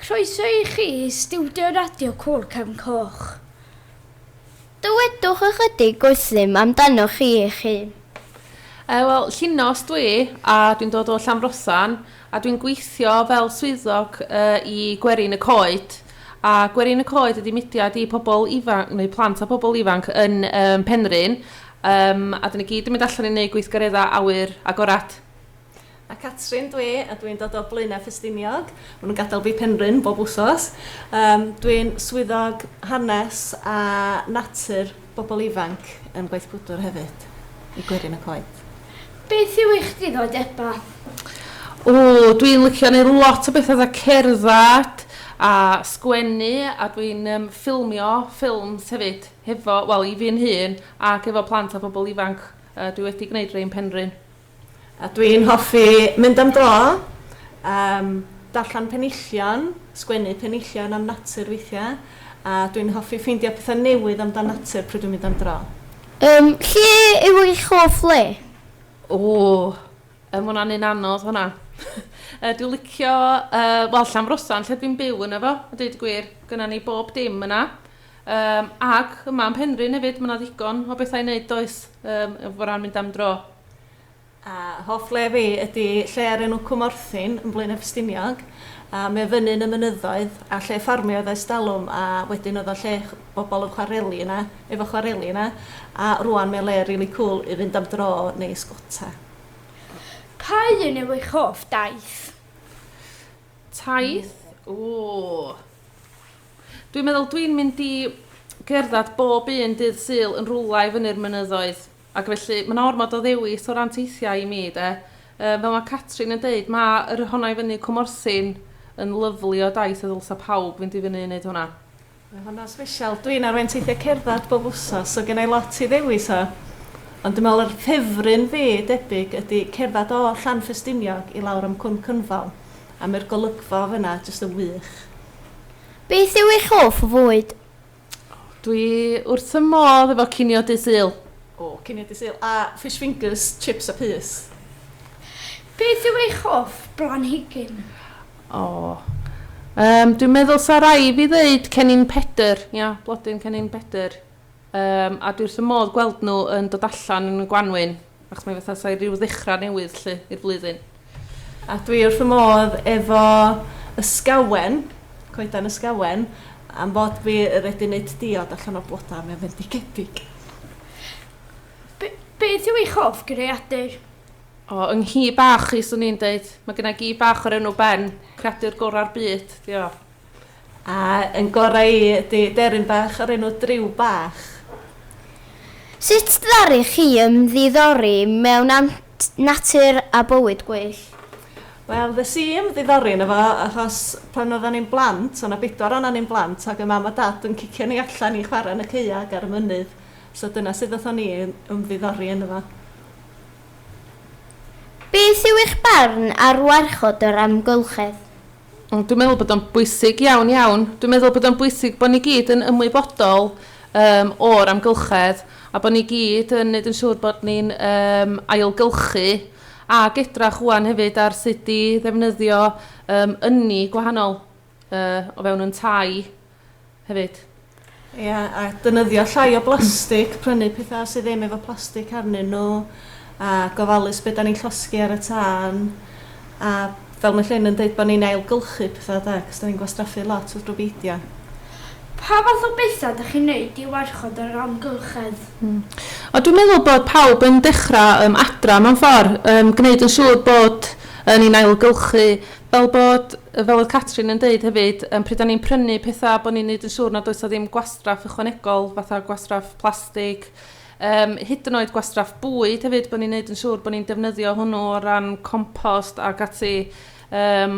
Croeso i chi i stiwdio Radio Cŵyl Cefn Coch. Dywedwch ychydig wrthym amdanoch chi eich hun. Yy, wel, Llinos dw i, a dwi'n dod o Llanfrothan, a dwi'n gweithio fel swyddog yy i Gwerin y Coed. A Gwerin y Coed ydy mudiad i pobl ifanc, neu plant a pobl ifanc yn um, Penrhyn, um, a dyn ni gyd yn mynd allan i wneud gweithgareddau awyr agored. A Catrin dwi a dwi'n dod o Blaenau Ffestiniog. Maen nhw'n gadael fi Penrhyn bob wsos. Um, dwi'n swyddog hanes a natur bobl ifanc yn Gwaith Gwdwr hefyd, i gwerin y coed. Beth yw eich diddordebau? O, dwi'n licio neu lot o beth oedd y cerdded a sgwennu a dwi'n um, ffilmio ffilms hefyd hefo, wel i fi'n hun ac efo plant a phobl ifanc. Uh, dwi wedi gwneud rhai yn Penrhyn. A dwi'n hoffi mynd am dro, yym, darllen penillion, sgwennu penillion am natur weithiau, a dwi'n hoffi ffeindio pethau newydd amdan natur pryd dwi'n mynd am dro. Yym, lle yw eich hoff le? O! Yy, ma' hwnna'n un anodd, hwnna. Yy, dwi'n licio, yy, wel, Llanfrosan, lle dwi'n byw ynddo fo, a deud y gwir. Gynnon ni bob dim yna. Yym ac yma yn Penrhyn hefyd ma' 'na ddigon o bethau i wneud does? Yym o ran mynd am dro. A hoff le fi ydi lle o'r enw Cwm Orthyn yn Blaenau Ffestiniog a mae o fyny yn y mynyddoedd a lle ffarmio oedd ers talwm a wedyn oedd o'n lle bobl yn chwareli yna efo chwareli yna a rŵan mae o'n le rili cŵl i fynd am dro neu ysgota. Pa un yw eich hoff daith? Taith? Ww! Dwi'n meddwl dwi'n mynd i gerdded bob un dydd Sul yn rwla i fyny'r mynyddoedd. Ac felly, mae yna ormod o ddewis o ran teithiau i mi, de. Um, fel mae Catrin yn dweud, mae yr honna i fyny Cwmorthin yn lyflu o daith a ddylsa pawb fynd i fyny i wneud hwnna. Mae hwnna'n special. Dwi'n arwain teithiau cerdded bob wsos, so gen i lot i ddewis o. Ond dwi'n meddwl yr ffefryn fi, debyg, ydy cerdded o Llanffestiniog i lawr am Cwm Cynfal. A mae'r golygfa fyna jyst yn wych. Beth yw eich hoff fwyd? Dwi wrth y modd efo cinio dy sul. O, cinio dy sul. A fish fingers, chips a pys. Beth yw eich hoff blanhigyn? O, um, dwi'n meddwl sa rai fi ddeud cennin pedr. Ia, blodyn cennin pedr. Yym, a dwi wrth fy modd gweld nhw yn dod allan yn y gwanwyn, achos mae fatha sa'i rhyw ddechrau newydd lly i'r flwyddyn. A dwi wrth fy modd efo Ysgawen, coeden Ysgawen, am fod fi wedi neud diod allan o bloda, mae o'n fendigedig. Be, beth yw eich hoff greadur? O, yng nghi bach i, swn i'n deud. Mae gynna i gi bach o'r enw Ben, creadur gorau'r byd, 'di o. A yn gorau i ydy deryn bach o'r enw Driw Bach. Sut ddaru chi ymddiddori mewn natur a bywyd gwyllt? Wel, ddes i ymddiddori yno fo achos pan oeddan ni'n blant, o' 'na bedwar ohonan ni'n blant, ac o' Mam a Dad yn cicio ni allan i chwarae yn y caeau ac ar y mynydd, so dyna sut ddaethon ni i ymddiddori yno fo. Beth yw eich barn ar warchod yr amgylchedd? Ond dwi'n meddwl bod o'n bwysig iawn, iawn. Dwi'n meddwl bod o'n bwysig bod ni gyd yn ymwybodol um, o'r amgylchedd a bod ni gyd yn gwneud yn siŵr bod ni'n um, ailgylchu a gedrach wwan hefyd ar sut i ddefnyddio um, ynni gwahanol uh, o fewn yn tai hefyd. Ia a defnyddio llai o blastig, prynu petha sy ddim efo plastig arnyn nhw a gofalus be' 'dan ni'n llosgi ar y tân a fel ma' Llyn yn deud bo' ni'n ailgylchu petha 'de achos 'dan ni'n gwastraffu lot wrth rw beidio. Pa fath o betha 'dach chi'n neud i warchod yr amgylchedd? Hmm. O dwi'n meddwl bod pawb yn dechra yym adra mewn ffor, yym gneud yn siŵr bod yy ni'n ailgylchu Fel bod, fel oedd Catrin yn deud hefyd, yym pryd o'n ni'n prynu pethau bod ni'n neud yn siŵr nad oes 'na ddim gwastraff ychwanegol fatha gwastraff plastig, yym hyd yn oed gwastraff bwyd hefyd bod ni'n neud yn siŵr bod ni'n defnyddio hwnnw o ran compost ac ati yym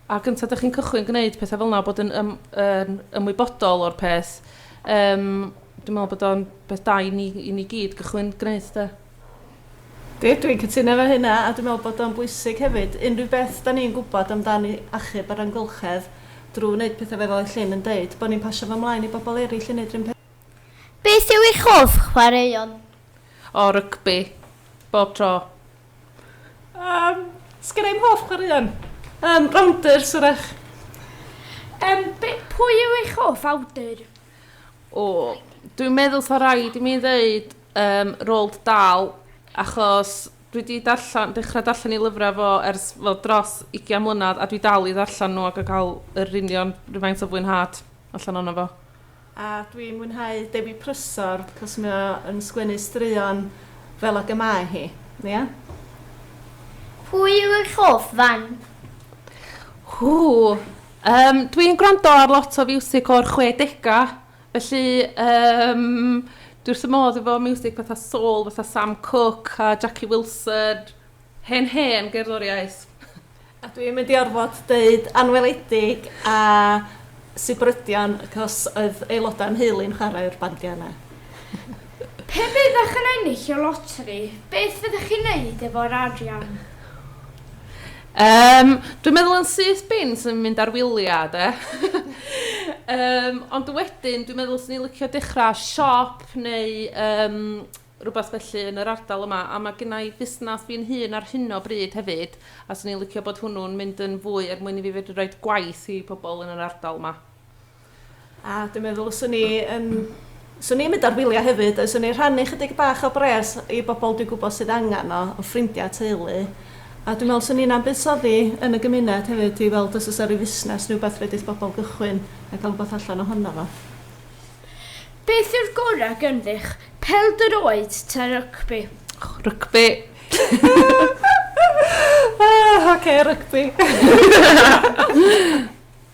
a gynta 'da chi'n cychwyn gwneud pethau fel 'na bod yn ym- yn ymwybodol o'r peth yym dwi'n meddwl bod o'n beth da i ni i ni gyd gychwyn gwneud de. Yndi, dwi'n cytuno efo hynna, a dwi'n meddwl bod o'n bwysig hefyd, unrhyw beth da ni'n gwybod amdani achub yr amgylchedd drwy wneud pethau fel oedd Llyn yn deud, bod ni'n pasio fo mlaen i bobl eraill i wneud yr un peth. Beth yw eich hoff chwaraeon? O, rygbi. Bob tro. Yym, sgenna i'm hoff chwaraeon. Yym, rownders, wrach. Yym, be- pwy yw eich hoff awdur? O, dwi'n meddwl 'sa raid i mi ddeud Yym, Roald Dahl, achos dwi 'di darllen, dechrau darllen ei lyfrau fo ers fel dros ugian mlynedd a dwi dal i ddarllen nhw ac yn cael yr union rhywfaint o fwynhad allan ohono fo. A dwi'n mwynhau Dewi Prysor, cos mae o yn sgwennu straeon fel ag y mae hi, ia? Pwy yw eich hoff fand? Ww! Yym, dwi'n gwrando ar lot o fiwsig o'r chwedegau. Felly yym dwi wrth fy modd efo miwsig fatha soul fatha Sam Cooke a Jackie Wilson, hen hen gerddoriaeth. A dwi yn mynd i orfod deud anweledig a sibrydion cos oedd aelodau o'n nheulu'n chwarae'r bandiau yna. Pe byddech yn ennill y loteri, beth fyddech chi'n neud efo'r arian? Yym, dwi'n meddwl yn syth bin sy'n mynd ar wyliau, de. Yym, ond wedyn, dwi'n meddwl 'swn i'n licio dechrau siop neu yym rywbeth felly yn yr ardal yma. A mae genna i fusnes fi'n hun ar hyn o bryd hefyd, a 'swn i'n licio bod hwnnw'n mynd yn fwy er mwyn i fi fedru rhoi gwaith i pobl yn yr ardal 'ma. A dwi'n meddwl os o'n i yn... os o'n i'n mynd ar wyliau hefyd, os o'n i'n rhannu chydig bach o bres i bobl dwi'n gwybod sydd angen o, o ffrindiau a teulu. A dwi'n meddwl os o'n i'n am buddsoddi yn y gymuned hefyd i weld os oes 'na ryw fusnes neu rywbeth fedrith bobl gychwyn a cael rhywbeth allan ohono fo. Beth yw'r gorau ganddi'ch pêl-droed ta rygbi? Och, rygbi! Ah, ocê, rygbi!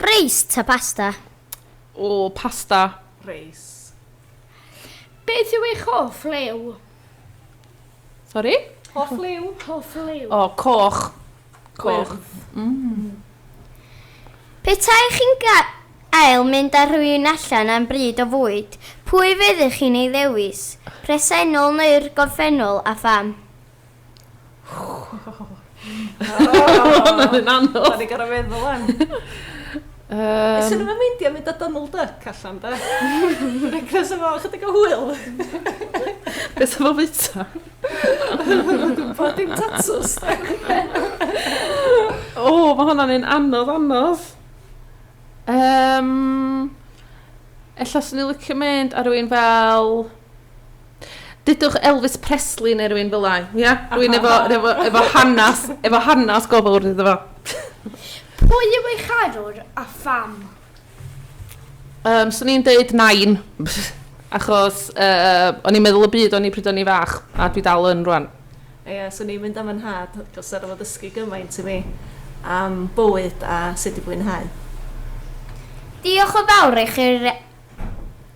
Reis ta pasta? O, pasta. Reis. Beth yw eich hoff liw? Sori? Hoff liw. Hoff liw. O, coch. Coch. Mm. Petai chi'n gael mynd â rhywun allan am bryd o fwyd, pwy fyddech chi'n ei ddewis? Presennol neu'r gorffennol, a pham? Mae'n un anodd. Da ni gorau meddwl am. Um, Swn i'n meindio mynd â Donald Duck allan, da. Cos efo chydig o hwyl. Beth efo fwyta? Bod dim tatws. o, mae hwnna'n un anodd, anodd. Um, Ella swn i'n licio mynd ar rwy'n fel Dudwch Elvis Presley neu rhywun fel lai. Ia? Rwy'n efo, efo, efo hanes, efo hanes gofal wrth iddo fo. Pwy yw ei charwr a pham? Um, so ni'n deud nain, achos uh, o'n i'n meddwl y byd o'n i pryd o'n i fach, a dwi dal yn rwan. Ie, yeah, so ni'n mynd am yn had, gos ar ôl ddysgu gymaint i mi am bywyd a sut i fwynhau. Diolch o fawr i chi'r